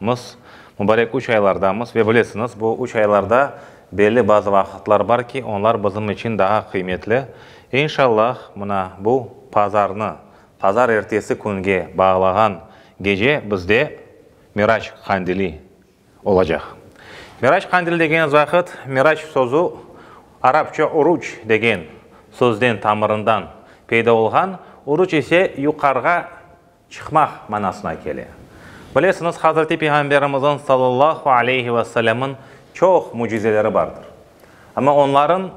Mız, mubarek üç aylardamız ve bilesiñiz, bu üç aylarda belli bazı vaqıtlar bar ki, onlar bizim içün daha qıymetli. İnşallah, mına, bu pazarnı, pazar ertesi künge bağlağan gece bizde Miraç Qandili olacaq. Miraç Qandili degeniniz vaqıt, Miraç sözü arapça uruç degen sözden, tamırından peyda olğan, uruç ise yuqarığa çıqmaq manasına kele. Bilesiñiz, Hazreti Peyğamberimizin sallallahu aleyhi ve sellemın çoq mücizeleri bardır. Amma onların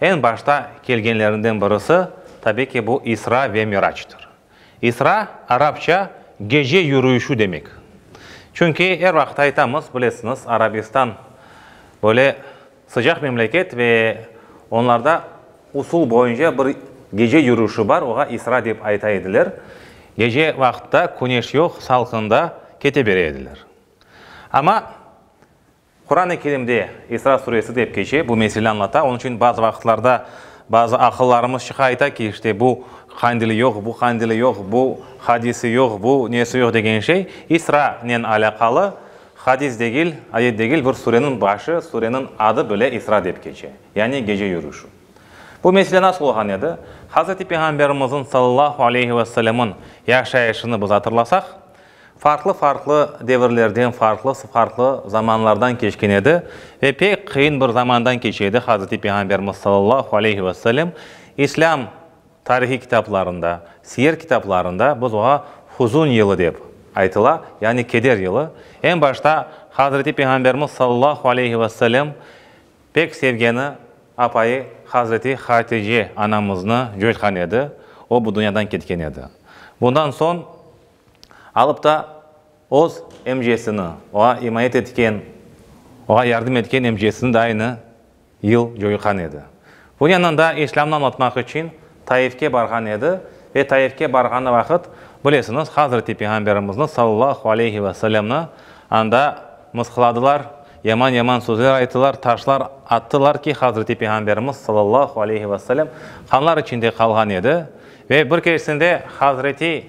eñ başta kelgenlerinden birisi, tabiy ki, bu İsra ve Miracdır. İsra, arapça gece yürüyüşü demek. Çünki er vaqıt aytamız, bilesiñiz, Arabistan böyle, Sıcaq memleket ve onlarda usul boyunca bir gece yürüşi bar, oğa isra dep ayta ediler. Gece vaqıtta küneş yoq, salqında kete bere ediler. Amma Quran-ı Kerimde İsra suresi dep keçe, bu mesele añlata, onıñ içün bazı vaqıtlarda bazı aqıllarımız çıqa ayta ki, işte bu Qandili yoq, bu Qandili yoq, bu hadisi yoq, bu nesi yoq degen şey İsranen alâqalı. Hadis degil, ayet degil, bir sureniñ başı sureniñ adı bile İsra dep keçe, yani gece yürüşü. Bu mesele nasıl olğan edi? Hazreti Peyğamberimiziñ sallallahu aleyhi ve sellem'iñ yaşayışını biz atırlasaq, farqlı-farqlı devirlerden, farqlı-farqlı zamanlardan keçken edi ve pek qıyın bir zamandan keçe edi Hazreti Peyğamberimiz sallallahu aleyhi ve sellem İslâm Tarihiy kitaplarında, siyer kitaplarında biz oña huzun yılı dep aytıla, yani keder yılı. Eñ başta Hazreti Peyğamberimiz sallallahu aleyhi ve sellem pek sevgeni apayı Hazreti Hatice anamıznı coşqan edi, o bu dünyadan ketken edi. Bundan soñ alıp ta öz emcesini, oña imayet etken, oña yardım etken emcesini de aynı yıl coyğan edi. Bu yanında işlemni añlatmaq içün Taifke barğan edi ve Taifke barğanı vaqıt, bilesiñiz, Hazreti Peyğamberimizni, sallallahu aleyhi ve sellemni, anda mısqıladılar, yaman-yaman sözler ayttılar, taşlar attılar ki, Hazreti Peyğamberimiz, sallallahu aleyhi ve sellem, qanlar içinde qalğan edi. Ve bir keresinde Hazreti.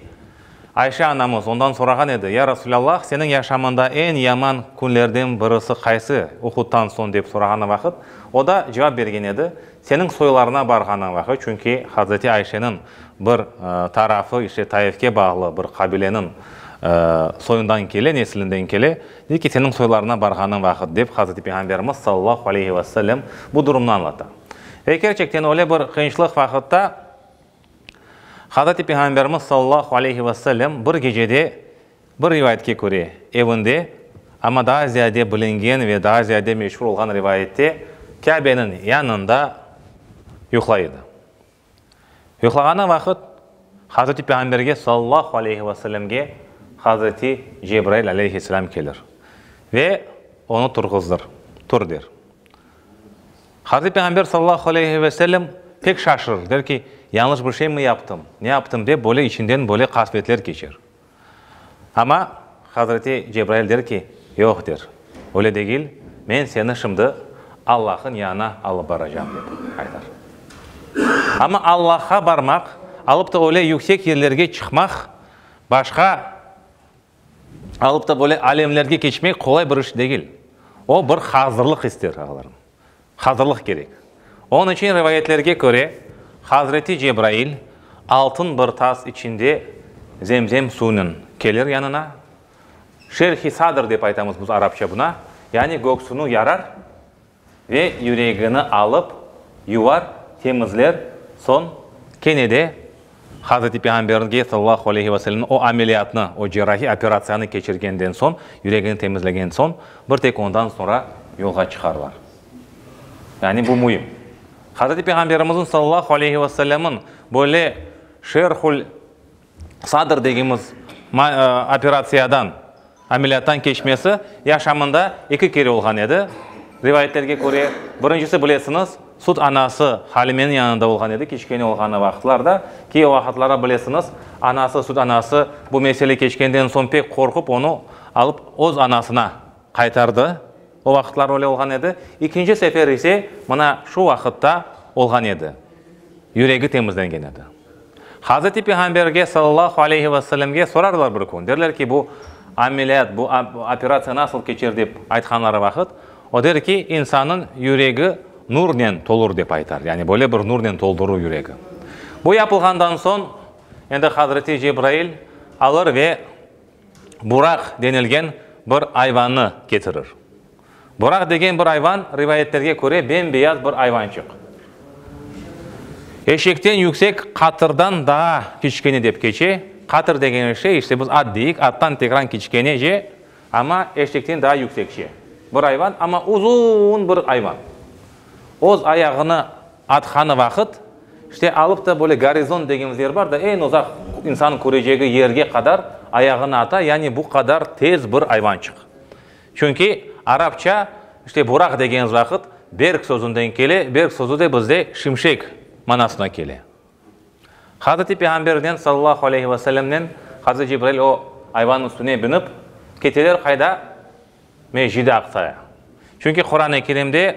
Ayşe anamız ondan sorağan edi, Ya Rasulâllah, seniñ yaşamında eñ yaman künlerden birisi qaysı? Uhudtan soñ dep sorağanı vaqıt, o da cevap bergen edi, Seniñ soylarına barğanıñ vaqıt, çünki Hazreti Ayşeniñ bir tarafı işte Taifke bağlı bir qabileniñ soyundan kele, neslinden kele, de ki, seniñ soylarına barğanıñ vaqıt, dep Hazreti Peyğamberimiz sallallahu aleyhi ve sellem bu durumnı añlata. Ve kerçekten öyle bir qıyınçlıq vaqıtta Hazreti Peyğamberimiz sallallahu aleyhi ve sellem bir gecede, bir rivayetke köre, evinde, amma daa ziyade bilingen ve daa ziyade meşur olğan rivayette, Kâbeniñ yanında yuqlay edi. Yuqlağanı vaqıt Hazreti Peyğamberge sallallahu aleyhi ve sellemge Hazreti Cebrail aleyhisselâm kelir ve onı turğuzdır, tur der. Hazreti Peyğamber sallallahu aleyhi ve sellem pek şaşırır, der ki, yañlış bir şey mi yaptım, ne yaptım dep böyle içinden böyle qasvetler keçer. Amma Hazreti Cebrail der ki, yoq der, öyle degil, men seni şimdi Allah'ın yanına alıp baracam dep aytar. Amma Allah'a barmaq, alıp da öyle yüksek yerlerge çıqmaq başqa. alıp da böyle alemlerge keçmek qolay bir iş degil. O, bir hazırlıq ister, ağalarım. Hazırlıq kerek. Onıñ içün, rivayetlerge köre, hazreti Cebrail altın bir tas içinde Zemzem suyunen kelir yanına, şerh-i sadr dep aytamız biz arapça buna, yani göksünü yarar, Ve yüregini alıp, yuvar, temizler, soñ. Kene de Hazreti Peyğamberge sallallahu aleyhi ve sellemniñ o ameliyatnı, o cerrahiy operatsiyanı keçirgenden soñ, yüregini temizlegen soñ, bir tek ondan soñra yolğa çıqarlar. Yani bu müim. Hazreti Peyğamberimizniñ sallallahu aleyhi ve sellemniñ böyle Şerhül Sadr degimiz operatsiyadan, ameliyattan keçmesi yaşamında eki kere olğan edi. Rivayetlerge köre, birincisi, bilesiñiz, süt anası Halimeniñ yanında olğan edi, kiçkene olğanı vaqıtlarda. Ki o vaqıtlarda, bilesiñiz, anası, süt anası bu mesele keçkenden soñ pek qorqıp, onı alıp öz anasına, Qaytardı. O vaqıtlar öyle olğan edi. İkinci sefer ise mına şu vaqıtta olğan edi. Yüregi temizlengen edi. Hazreti Peyğamberge sallallahu aleyhi ve sellemge sorarlar bir kün, derler ki, bu ameliyat, bu operatsiya nasıl keçer dep aytqanları vaqıt, o der ki, insannıñ yüregi nurnen tolur dep aytar. Yani böyle bir nurnen toldurur yüregi. Bu yapılğandan soñ endi Hazreti Cebrail alır ve buraq denilgen bir ayvannı ketirir. Buraq degen bir ayvan, rivayetlerge köre, bem-beyaz bir ayvançıq. Eşekten yüksek, qatırdan daa kiçkene dep keçe. Qatır degeni şey, işte biz at deyik, attan tekran kiçkenece, amma eşekten daa yüksekçe bir ayvan, amma uzun bir ayvan. Öz ayağını Athanı vaqıt, işte alıp da böyle gorizont degenimiz yer bar da, eñ uzaq insanıñ körecegi yerge qadar ayağını ata, yani bu qadar tez bir ayvançıq. Çünki arapça işte buraq degenimiz vaqıt berk sözünden kele, berk sözü de bizde şimşek manasına kele. Hazreti Peyğamberden sallallahu aleyhi ve sellemnen Hazreti Cibrail o ayvanıñ üstüne binip keteler qayda? Mescid-i Aqsaya. Çünki Quran-ı Kerimde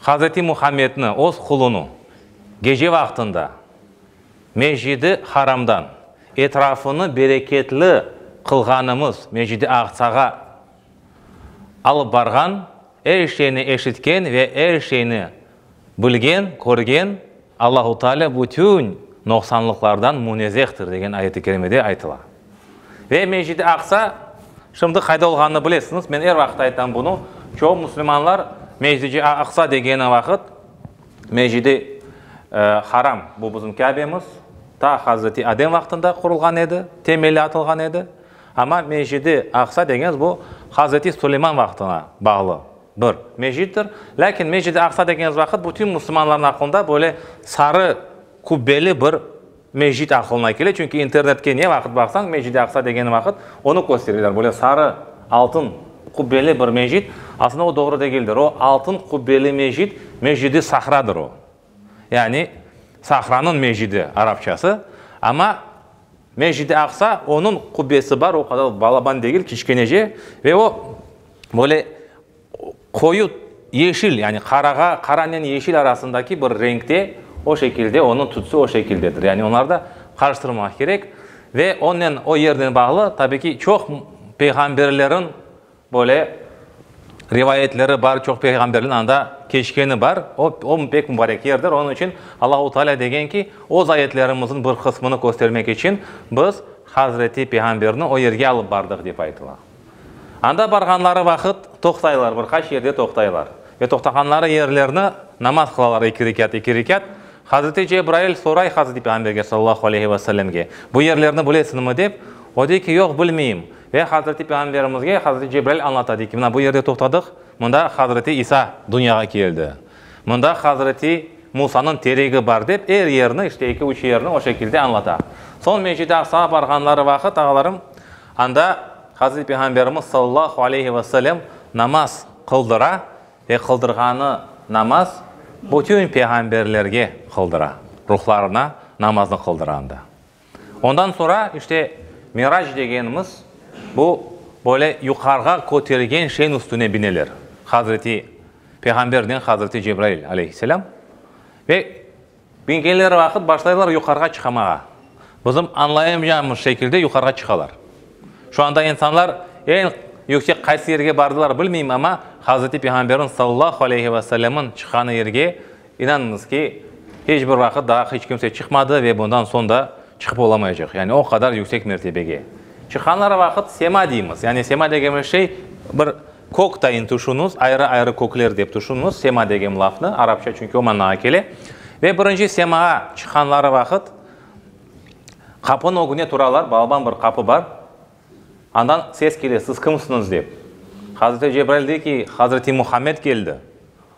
Hazreti Muhammedni, Öz qulunı, gece vaqtında Mescid-i Haramdan, etrafını bereketli qılğanımız Mescid-i Aqsağa alıp barğan, er şeyni eşitken ve er şeyni bilgen, körgen Allahu Taalâ bütün noqsanlıqlardan munezehtir degen ayet-i kerimede aytıla. Ve Mescid-i Aqsa şimdi qayda olğanını bilesiñiz, men er vaqıt aytam bunı, çoğu musulmanlar Mescid-i Aqsa degeni vaqıt Mescid-i Haram, bu bizim Kâbemiz, ta Hazreti Adem vaqtında qurulğan edi, temeli atılğan edi, amma Mescid-i Aqsa degenız bu Hazreti Suleyman vaqtına bağlı bir mescittir. Lâkin Mescid-i Aqsa degenız vaqıt bütün musulmanlarnıñ aqlında böyle sarı kubbeli bir Mescit aqılına kele, çünki internetke ne vaqıt baqsañ, Mescid-i Aqsa degen vaqıt onı köstereler, böyle sarı, altın qubbeli bir mescit. Aslında o doğru degildir. O altın qubbeli mescit, Mescid-i Sahradır o. Yani Sahranıñ mescidi arapçası. Amma Mescid-i Aqsa, onıñ qubbesi bar, o qadar balaban degil, kiçkenece ve o böyle Qoyu yeşil, yani qarağa, qaranen yeşil arasındaki bir renkte, o şekilde, onıñ tütsü o şekildedir. Yani onları da qarıştırmamaq kerek. Ve onen, o yernen bağlı, tabii ki, çoq peyğamberlerin böyle rivayetleri bar, çoq peyğamberlerin anda keçkeni bar. O, o pek mübarek yerdir. Onıñ içün Allahu Teala degen ki, öz ayetlerimizniñ bir qısmını köstermek içün biz hazreti peyğamberni o yerge alıp bardıq, dep aytıla. Anda barğanları vaqıt toqtaylar, bir qaç yerde toqtaylar. Ve toqtağanları yerlerni namaz qılalar eki rekât, eki rekât. Hazreti Cebrail soray Hazreti Peyğamberge sallallahu aleyhi ve sellemge, bu yerlerni bilesiñmi dep, o dey ki, yoq, bilmeyim. Ve Hazreti Peyğamberimizge Hazreti Cebrail añlata, dey ki, mına bu yerde toqtadıq, mında Hazreti İsa dünyağa keldi, mında Hazreti Musanıñ teregi bar dep, er yerni, işte eki-üç yerni o şekilde añlata. Soñ Mescid-i Aqsağa barğanları vaqıt, ağalarım, Anda Hazreti Peyğamberimiz sallallahu aleyhi ve sellem namaz qıldıra ve qıldırğanı namaz bütün peyğamberlerge qıldıra, ruhlarına namaznı qıldıra anda. Ondan sonra işte Mirac degenimiz bu böyle yuqarığa köterilgen şeyin üstüne bineler Hazreti Peyğambernen Hazreti Cebrail aleyhisselâm ve Küngeler vaqıt başlaylar yuqarığa çıqamağa. Bizim añlayamaycağımız şekilde yuqarığa çıqalar. Şu anda insanlar eñ yüksek qaysı yerge bardılar bilmeyim, amma Hazreti Peyğamberniñ sallallahu aleyhi ve sellemniñ çıqqanı yerge, inanıñız ki, hiç bir vaqıt daa hiç kimse çıqmadı ve bundan soñ da çıqıp olamaycaq. Yani o qadar yüksek mertebege. Çıqqanları vaqıt sema deymiz. Yani sema degenimiz şey bir Kök tayın tüşüniz, ayrı-ayrı kökler dep tüşüniz, sema degem lafnı, arapça çünki o manağa kele. Ve birinci semaa çıqqanları vaqıt qapınıñ ögüne turalar, balban bir qapı bar. Andan ses kele, siz kimsiñiz dep. Hazreti Cebrail dey ki, Hazreti Muhammed keldi.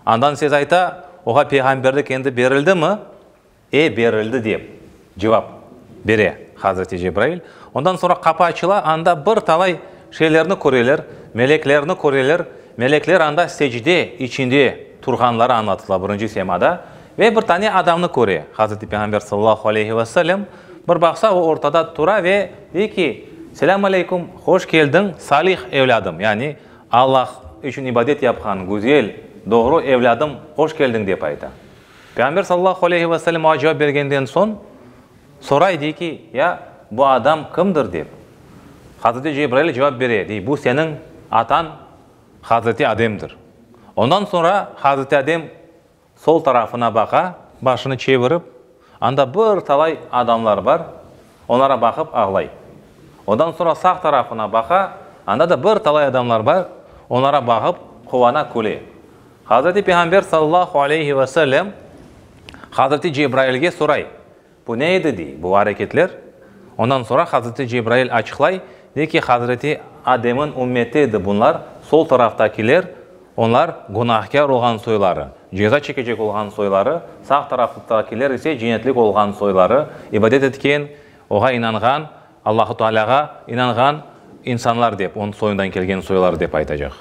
Andan ses ayta, oğa peyğamberlik endi berildimi? E, berildi, dep cevap bere Hazreti Cebrail. Ondan soñra qapı açıla, anda bir talay şeylerni köreler, meleklerni köreler. Melekler anda secde içinde turğanları añlatıla, birinci semada, ve bir tane adamnı köre Hazreti Peyğamber sallallahu aleyhi ve sellem. Bir baqsa, o ortada tura ve dey ki, Selâm aleykum, hoş keldiñ, salih evlâdım, yani Allah içün ibadet yapqan güzel, doğru evlâdım, hoş keldiñ, dep ayta. Peyğamber sallallahu aleyhi ve selem oğa cevap bergenden soñ, soray, dey ki, Ya, bu adam kimdir? dep. Hazreti Cebrail cevap bere, dey, Bu seniñ atañ Hazreti Ademdir. Ondan soñra Hazreti Adem sol tarafına baqa, başını çevirip, anda bir talay adamlar bar, onlara baqıp ağlay. Ondan soñra sağ tarafına baqa, anda da bir talay adamlar bar, onlara baqıp quvana, küle. Hazreti Peyğamber sallallahu aleyhi ve sellem hazreti Cebrailge soray, bu ne edi, dey, bu areketler? Ondan soñra hazreti Cebrail açıqlay, dey ki, hazreti Ademniñ ümmeti edi bunlar, sol taraftakiler, onlar günahkâr olğan soyları, ceza çekecek olğan soyları, sağ taraftakiler ise cennetlik olğan soyları, ibadet etken, oğa inanğan, Allahu Taalâğa inanğan insanlar dep, onıñ soyundan kelgen soylar dep aytacaq.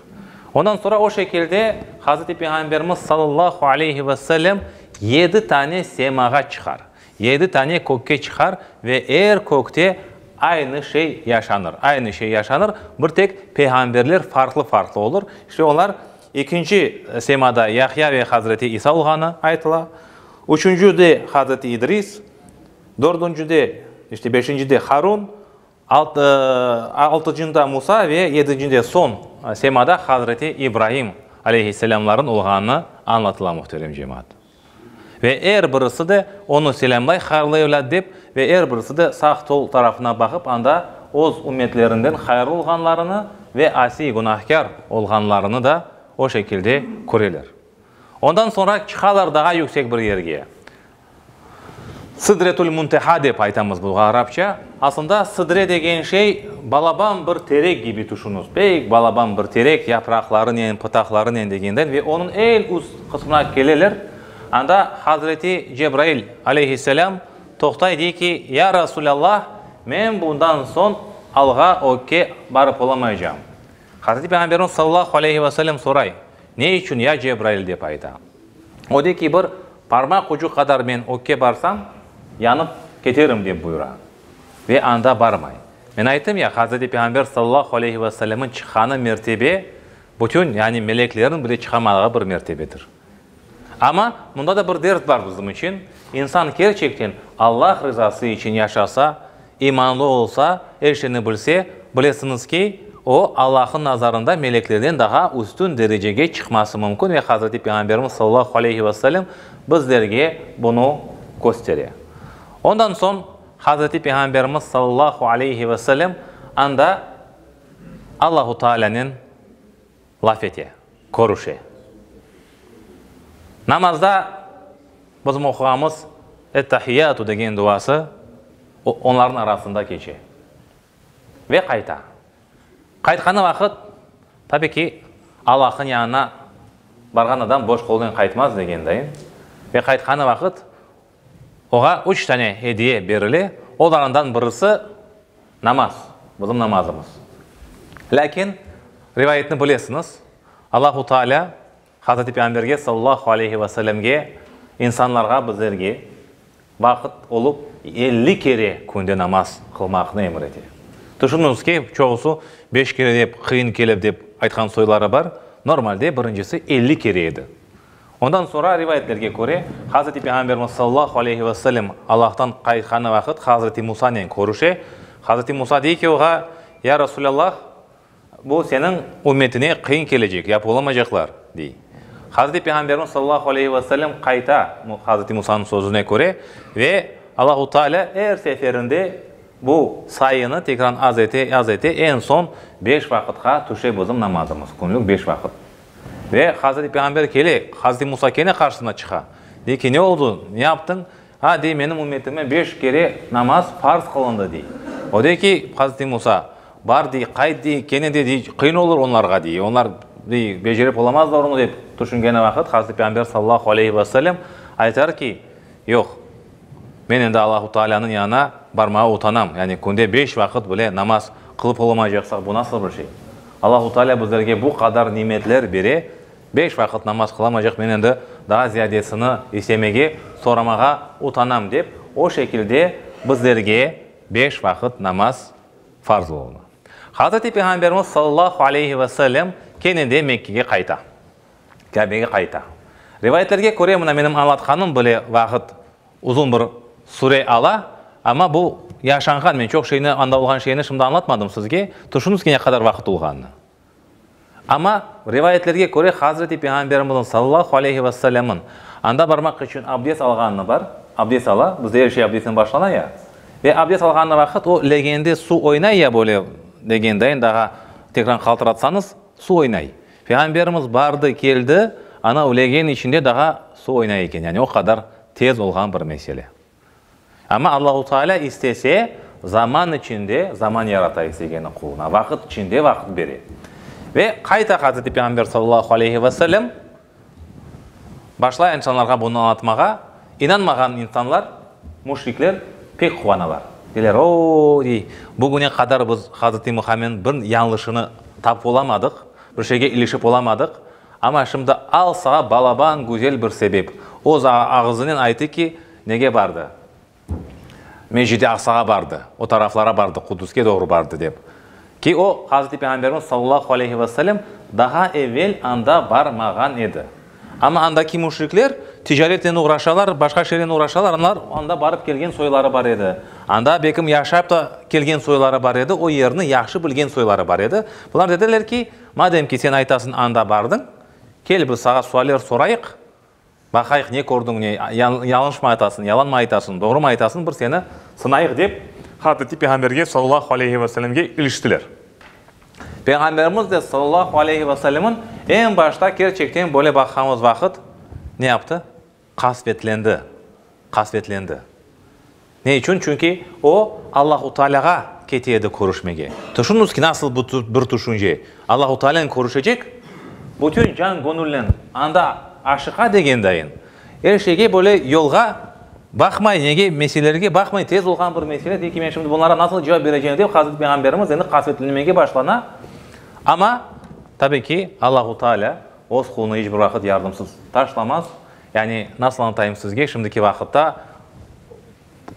Ondan sonra o şekilde Hazreti Peyğamberimiz sallallahu aleyhi ve sellem yedi tane semağa çıqar, yedi tane kökke çıqar ve er kökte aynı şey yaşanır, aynı şey yaşanır, bir tek peyğamberler farqlı-farqlı olur. İşte olar ekinci semada Yahya ve Hazreti İsa olğanı aytıla, üçüncüde Hazreti İdris, Dördüncide, işte beşincide Harun, altıcında Musa ve yedincinde soñ semada hazreti İbraim aleyhisselâmlarnıñ olğanı añlatıla, muhterem cemaat. Ve er birisi de onı selâmlay, hayırlı evlâd dep, ve er birisi de sağ-sol tarafına baqıp anda öz ümmetlerinden hayırlı olğanlarını ve asiy, günahkâr, olğanlarını da o şekilde köreler. Ondan soñra çıqalar daa yüksek bir yerge. Sidretül Munteha dep aytamız bunğa arapça. Aslında sidre degen şey balaban bir terek kibi tüşüniz. Pek balaban bir terek, yapraqlarınen, pıtaqlarınen degenden ve onıñ eñ üst qısmına keleler. Anda Hazreti Cebrail aleyhisselâm toqtay, dey ki, Ya Rasulallah, men bundan soñ alğa, ökke, barıp olamaycağım. Hazreti Peyğamberimiz sallallahu aleyhi ve sellem soray, Ne içün, ya Cebrail? dep ayta. O de ki, bir parmaq ucu qadar men ökke barsam, yanıp keterim, dep buyura. Ve anda barmay. Men ayttım ya, Hazreti Peyğamber sallallahu aleyhi ve sellemniñ çıqqanı mertebe, bütün, yani meleklerniñ bile çıqamadığı bir mertebedir. Amma mında da bir ders bar bizim içün, insan kerçekten Allah rızası içün yaşasa, İmanlı olsa, er şeyni bilse, bilesiñiz ki, o, Allahnıñ nazarında meleklerden daha üstün derecege çıqması mümkün ve Hazreti Peyğamberimiz sallallahu aleyhi ve sellem bizlerge bunı köstere. Ondan soñ Hazreti Peyğamberimiz sallallahu aleyhi ve sellem anda Allahu Taalânen Laf ete, körüşe. Namazda bizim oquğanımız Et-Tahiyyâtu degen duası onların arasında keçe. Ve qayta. Qaytqanı vaqıt, tabi ki, Allahnıñ yanına barğan adam boş qolnen qaytmaz degendayin, ve qaytqanı vaqıt Oğa üç tane ediye berile, olarından birisi, namaz, bizim namazımız. Lâkin, rivayetni bilesiñiz, Allahu Taalâ Hazreti Peyğamberge sallallahu aleyhi ve sellemge, insanlarğa, bizlerge, vaqıt olıp, elli kere künde namaz qılmaqnı emir ete. Tüşüniñiz ki, çoğusı beş kere dep, qıyın kelip dep aytqan soyları bar, normalde birincisi elli kere edi. Ondan soñra, rivayetlerge köre, Hazreti Peyğamberimiz sallallahu aleyhi ve sellem Allahtan qaytqanı vaqıt Hazreti Musanen körüşe. Hazreti Musa dey ki, oğa, Ya Rasulallah, bu seniñ ümmetine qıyın kelecek, yap olamaycaqlar, dey. Hazreti Peyğamberimiz sallallahu aleyhi ve sellem qayta Hazreti Musanıñ sözüne köre ve Allahu Taalâ er seferinde bu sayını tekran az ete, az ete, eñ soñ beş vaqıtqa tüşe bizim namazımız, künlük beş vaqıt. Ve Hazreti Peyğamber kele, Hazreti Musa kene qarşısına çıqa. Dey ki, ne oldı, ne yaptıñ? A, dey, menim ümmetime beş kere namaz parz qılındı, dey. O dey ki, Hazreti Musa, bar, dey, qayt, dey, kene de, dey, qıyın olur onlarğa, dey, onlar, dey, becerip olamazlar onı, dep tüşüngeni vaqıt Hazreti Peyğamber sallallahu aleyhi ve sellem aytar ki, yoq. Men endi Allahu Taalânıñ yanına barmağa utanam, yani künde beş vaqıt bile namaz qılıp olamaycaqsaq, bu nasıl bir şey? Allahu Taalâ bizlerge bu qadar nimetler bere, beş vaqıt namaz qılamaycaq, men endi daa ziyadesini istemege, soramağa utanam, dep, o şekilde bizlerge beş vaqıt namaz farz olunı. Hazreti Peyğamberimiz sallallahu aleyhi ve sellem kene de Mekkege qayta. Kâbege qayta. Rivayetlerge köre, mına menim añlatqanım bile vaqıt, uzun bir süre ala, amma bu yaşanğan, men çoq şeyni, anda olğan şeyni şimdi añlatmadım sizge, tüşüniz ki, ne qadar vaqıt olğanını. Amma rivayetlerge köre, Hazreti Peyğamberimizniñ, sallallahu aleyhi ve sellemniñ, anda barmaq içün abdest alğanını bar, abdest ala, bizde er şey abdestten başlana ya, ve abdest alğanı vaqıt o legende suv oynay ya böyle legendayn, daha tekrar qaltıratsañız, suv oynay. Peyğamberimiz bardı, keldi, anav legen içinde daha suv oynay eken, yani o qadar tez olğan bir mesele. Amma Allahu Taalâ istese, zaman içinde zaman yarata istegeni quluna, vaqıt içinde vaqıt bere. Ve qayta Hazreti Peyğamber sallallahu aleyhi ve sellem. Başlay insanlarğa bunı añlatmağa, inanmağan insanlar, müşrikler, pek quvanalar. Deyler, O, dey, bugüne qadar biz Hazreti Muhammedniñ bir yañlışını tapıp olamadıq, bir şeyge ilişip olamadıq, amma şimdi al saña balaban güzel bir sebep. O ağızınen aytı ki, nege bardı. Mescid-i Aqsağa bardı, o taraflara bardı, Quduske doğru bardı, dep. Ki o, Hazreti Peyğamberimiz sallallahu aleyhi ve sellem daha evel anda barmağan edi. Amma andaki müşrikler ticaretnen uğraşalar, başqa şeynen uğraşalar, olar anda barıp kelgen soyları bar edi. Anda belkim yaşap ta kelgen soyları bar edi, o yerni yahşı bilgen soyları bar edi. Bular dediler ki, madem ki sen aytasıñ anda bardıñ, kel biz sağa sualler sorayıq, Baqayıq, ne kördiñ, ne yalıñşmı aytasıñ, yalanmı aytasıñ, doğrumı aytasıñ, bir seni sınayıq, dep, Hazreti Peyğamberge sallallahu aleyhi ve sellemge iliştiler. Peyğamberimiz de sallallahu aleyhi ve sellemin eñ başta kerçekten böyle baqğanıñ vaqıt ne yaptı? Qasvetlendi. Qasvetlendi. Ne içün? Çünki o, Allahu Taalâğa kete edi körüşmege. Tüşüniñiz ki, nasıl bir tüşünce! Allahu Taalennen körüşecek, bütün can-göñülnen anda aşıqa degendayın, er şeyge böyle yolğa baqmay, nege, meselelerge baqmay, tez olğan bir mesele dey ki, men şimdi bunlara nasıl cevap bereceğim dep, Hazreti Peyğamberimiz endi qasvetlenmege başlana. Amma, tabii ki, Allahu Taalâ öz qulunı iç bir vaqıt yardımsız taşlamaz. Yani, nasıl añlatayım sizge, şimdiki vaqıtta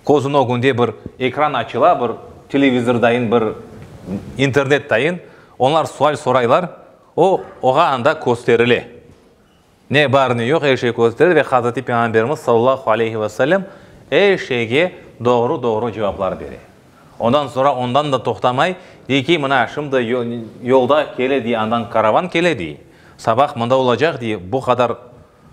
közüniñ ögünde bir ekran açıla, bir televizor dayın, bir internet dayın, onlar sual soraylar, o, oña anda kösterile. Ne bar, ne yoq, er şey kösterile ve Hazreti Peyğamberimiz sallallahu aleyhi ve sellem er şeyge doğru-doğru cevaplar bere. Ondan soñra ondan da toqtamay, dey ki, mına, şimdi yolda kele, dey, andan karavan kele, dey, sabah mında olacaq, dey, bu qadar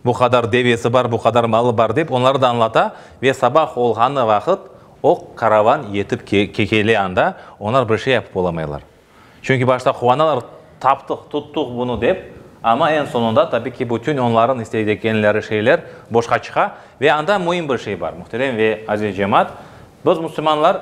Bu qadar devesi bar, bu qadar malı bar, dep onları da añlata. Ve sabah olğanı vaqıt oq karavan yetip kele anda, oñlar bir şey yapıp olamaylar. Çünki başta quanalar, taptıq, tuttuq bunı, dep, amma eñ soñunda, tabi ki, bütün oñlarnıñ isteydi ekenleri şeyler boşqa çıqa. Ve anda müim bir şey bar, muhterem ve aziz cemaat, biz, musulmanlar,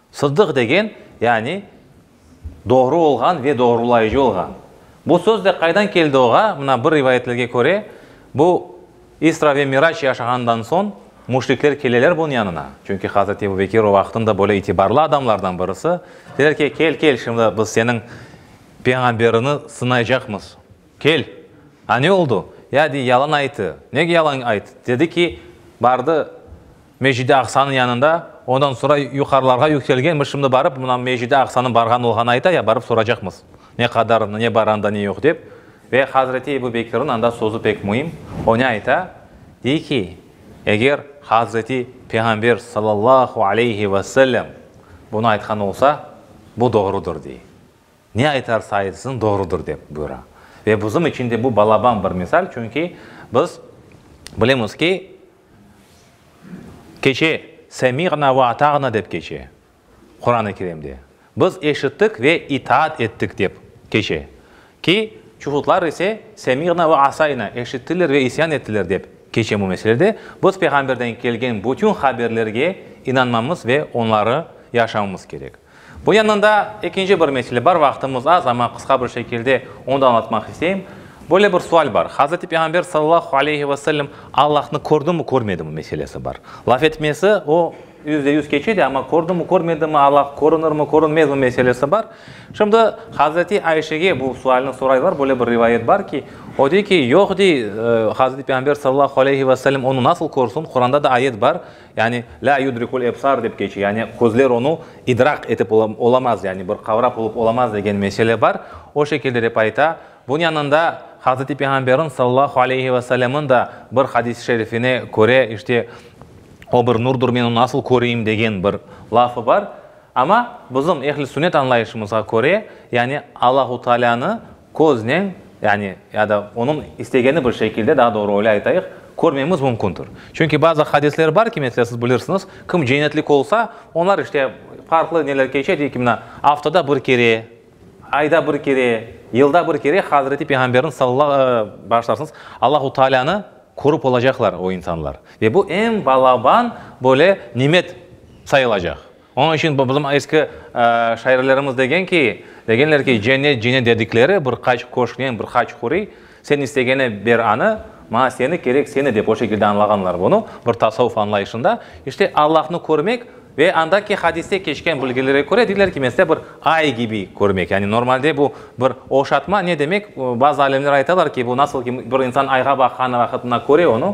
Sıddıq degen, yani doğru olğan ve doğrulayıcı olğan. Bu söz de qaydan keldi oğa, mına bir rivayetlerge köre, bu İsra ve Miraç yaşağanından soñ müşrikler keleler bunıñ yanına, çünki Hazreti Ebu Bekir o vaqıtnıñ da böyle itibarlı adamlardan birisi, deyler ki, kel, kel, şimdi biz seniñ peyğamberini sınaycaqmız, kel, a ne oldu, ya, dey, yalan ayttı, nege yalan ayttı, dedi ki, bardı, Mecid-i Aqsanıñ yanında, ondan sonra yuqarılarğa yükselgenmiz, şimdi barıp, mına Mecid-i Aqsanıñ barğan olğanı ayta ya, barıp soracaqmız, ne qadar, ne bar anda, ne yoq dep. Ve Hazreti Ebu Bekirniñ anda sözü pek müim, o ne ayta, dey ki, eger Hazreti Peyğamber sallallahu aleyhi ve sellem bunı aytqan olsa, bu doğrudır, dey. Ne aytarsa aytsın, doğrudır, dep buyura. Ve bizim içün de bu balaban bir misal, çünki biz bilemiz ki, Keçe, Semi'na ve ata'na dep keçe, Quran-ı Kerimde. Biz eşittik ve itaat ettik dep keçe. Ki, çuhudlar ise, Semi'na ve asayna, eşittiler ve isyan ettiler dep keçe bu meselede. Biz Peyğamberden kelgen bütün haberlerge inanmamız ve onları yaşamamız kerek. Bu yandan da ekinci bir mesele bar, vaqtımız az, amma qısqa bir şekilde onı da añlatmaq isteyim. Böyle bir sual bar, Hazreti Peyğamber sallallahu aleyhi ve sellem Allahnı kördi-mi, körmedi-mi meselesi bar. Laf etmesi o yüzde yüz keçe de, amma kördi-mi, körmedi-mi, Allah körünir-mi, körünmez-mi meselesi bar. Şimdi Hazreti Ayşege bu sualni soraylar, böyle bir rivayet bar ki, o dey ki, yoq dey, Hazreti Peyğamber sallallahu aleyhi ve sellem onı nasıl körsün, Quranda da ayet bar, Yani, lâ yudrikul ebsar dep keçe, yani közler onı idraq etip olamaz, yani bir qavrap olıp olamaz degen mesele bar. O şekilde dep ayta. Bunıñ yanında Hazreti Peyğamberniñ sallallahu aleyhi ve sellemniñ da bir hadisi şerifine köre, işte, O bir nurdur, men onı nasıl köreyim degen bir lafı bar. Amma bizim ehli-sünnet añlayışımızğa köre, yani Allahu Taalânı Köznen, yani, ya da onıñ istegeni bir şekilde, daa doğru öyle aytayıq, körmemiz mümkündir. Çünki bazı hadisler bar ki, mesele, siz bilirsiñiz, kim cennetlik olsa, onlar, işte, farqlı neler keçe, dey ki, mına, aftada bir kere, ayda bir kere, yılda bir kere Hazreti Peyğamberniñ salla, bağışlarsıñız, Allahu Taalânı körip olacaqlar o insanlar. Ve bu eñ balaban, böyle, nimet sayılacaq. Onıñ içün bu bizim eski şairlerimiz degen ki, degenler ki, cennet, cennet dedikleri bir qaç köşknen, bir qaç huriy, sen istegene ber anı, maña seni kerek, seni dep o şekilde añlağanlar bunı, bir tasavuf añlayışında. İşte Allahnı körmek ve andaki hadiste keçken bilgilere köre deyler ki, mesele bir ay kibi körmek. Yani normalde bu bir oşatma, ne demek, bazı alimler aytalar ki, bu nasıl ki bir insan ayğa baqan vaqıtında köre onı,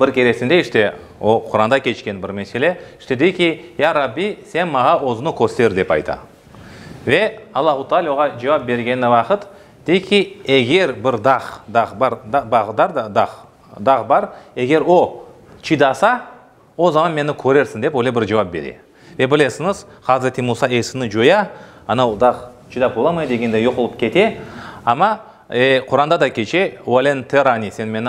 Bir keresinde işte o Quranda keçken bir mesele, işte dey ki, Ya Rabbi, sen mağa özüni köster, dep ayta. Ve Allahu Taala oğa cevap bergeni vaqıt, dey ki, eger bir dağ, dağ bar, bağ dar da, dağ, dağ bar, eger o çidasa, O zaman meni körersiñ, dep öyle bir cevap bere. Ve bilesiñiz, Hazreti Musa esini coya, ana o dağ çidap olamay degenday yoq olıp kete. Amma, e, Quranda da keçe, Ve len terani, sen meni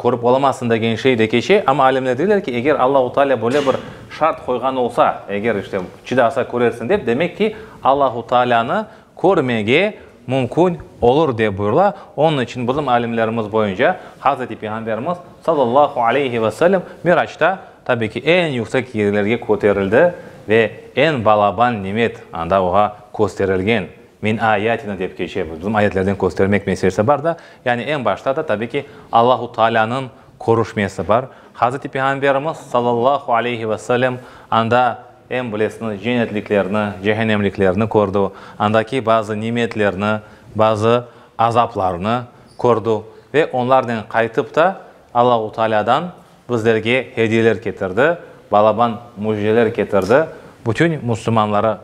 körip olamazsıñ degen şey de keçe. Amma alimler deyler ki, eger Allahu Taalâ böyle bir şart qoyğan olsa, eger işte çidasa körersiñ dep, demek ki, Allahu Taalânı körmege mümkün olur, dep buyurıla. Onıñ içün bizim alimlerimiz boyunca Hazreti Peyğamberimiz, sallallahu aleyhi ve sellem, Miraçta, tabiy ki, eñ yüksek yerlerge köterildi ve eñ balaban nimet anda oña kösterilgen. Min ayatina dep keçe, bizim ayetlerden köstermek meselesi bar da, yani eñ başta da, tabiy ki, Allahu Taalânıñ körüşmesi bar. Hazreti Peyğamberimiz sallallahu aleyhi ve sellem anda em bilesiniz cennetliklerni, cehennemliklerni kördi, andaki bazı nimetlerni, bazı azaplarnı kördi ve onlarnen qaytıp ta Allahu Taalâdan bizlerge hediyeler ketirdi, balaban müjdeler ketirdi, bütün müslümanları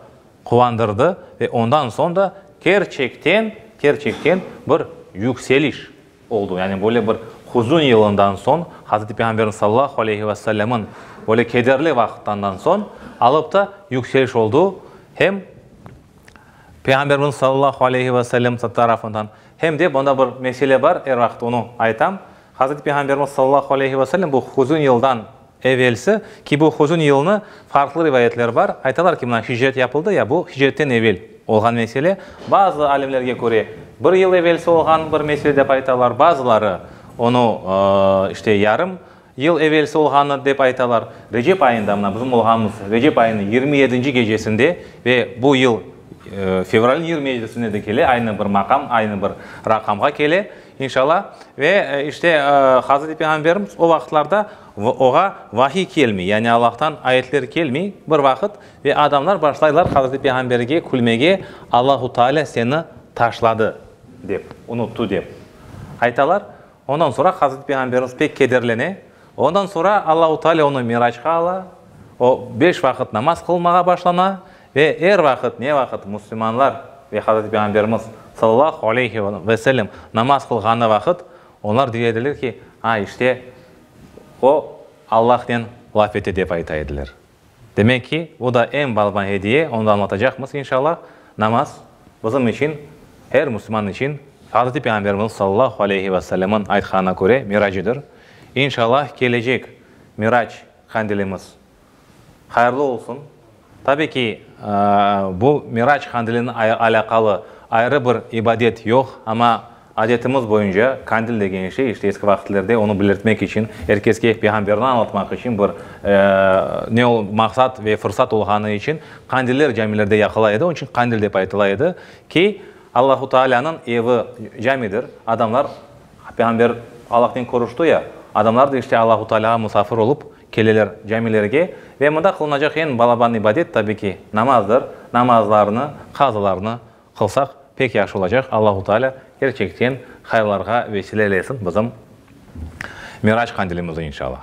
quvandırdı ve ondan soñ da kerçekten, kerçekten bir yükseliş, oldu. Yani böyle bir huzün yılından soñ, Hazreti Peyğamberimiz sallallahu aleyhi ve sellemniñ böyle kederli vaqıttandan soñ alıp da yükseliş oldu. Hem Peyğamberimiz sallallahu aleyhi ve sellem tarafından, hem de bunda bir mesele bar, er vaqıt onı aytam, Hazreti Peyğamberimiz sallallahu aleyhi ve sellem bu huzün yıldan Evelsi ki bu huzun yılını farqlı rivayetler bar. Aytalar ki, mına hicret yapıldı ya, bu hicretten evel olğan mesele. Bazı alimlerge köre, bir yıl evelsi olğan bir mesele dep aytalar, bazıları onı işte yarım yıl evelsi olğanı dep aytalar. Recep ayında, mına bizim olğanımız Recep ayınıñ yirmi yedinci gecesinde ve bu yıl fevralniñ yirmi yedisinde de kele, aynı bir maqam, aynı bir raqamğa kele. İnşalla. Ve işte Hazreti Peyğamberimiz o vaqıtlarda oğa vahiy kelmey, yani Allahtan ayetler kelmey bir vaqıt ve adamlar başlaylar Hazreti Peyğamberge külmege, Allahu Teala seni taşladı dep, unuttı dep aytalar. Ondan soñra Hazreti Peyğamberimiz pek kederlene. Ondan soñra Allahu Teala onı Miracqa ala, o beş vaqıt namaz qılmağa başlana Ve er vaqıt, ne vaqıt müslümanlar ve Hazreti Peyğamberimiz, sallallahu aleyhi ve sellem, namaz qılğanı vaqıt, onlar diye ediler ki, A, işte, o Allahnen laf etti, dep ayta ediler. Demek ki, bu da eñ balma ediye, onı da añlatacaqmız, inşallah. Namaz, bizim içün, er müslüman içün, Hazreti Peyğamberimiz, sallallahu aleyhi ve sellem'in aytqanına köre, miracıdır. İnşallah, kelecek mirac qandilimiz Hayırlı olsun. Tabii ki, bu Mirac Kandilinen alâqalı ayrı bir ibadet yoq, amma adetimiz boyunca Kandil degen şey, işte eski vaqıtlerde onı belirtmek içün, er keske Peyğamberni añlatmaq içün bir ne o, maqsat ve fırsat olğanı içün Kandiller camilerde yaqıla edi, onıñ içün Kandil dep aytıla edi ki, Allahu Taalânıñ evi camidir, adamlar, Peyğamber Allahnen körüşti ya, adamlar da işte Allahu Taalâğa musafir olıp Keleler camilerge ve mında qılınacaq eñ balaban ibadet, tabi ki, namazdır, namazlarnı, qazalarnı qılsaq pek yahşı olacaq, Allahu Taalâ kerçekten hayırlarğa vesile eylesin bizim Mirac Qandilimizni, inşalâh.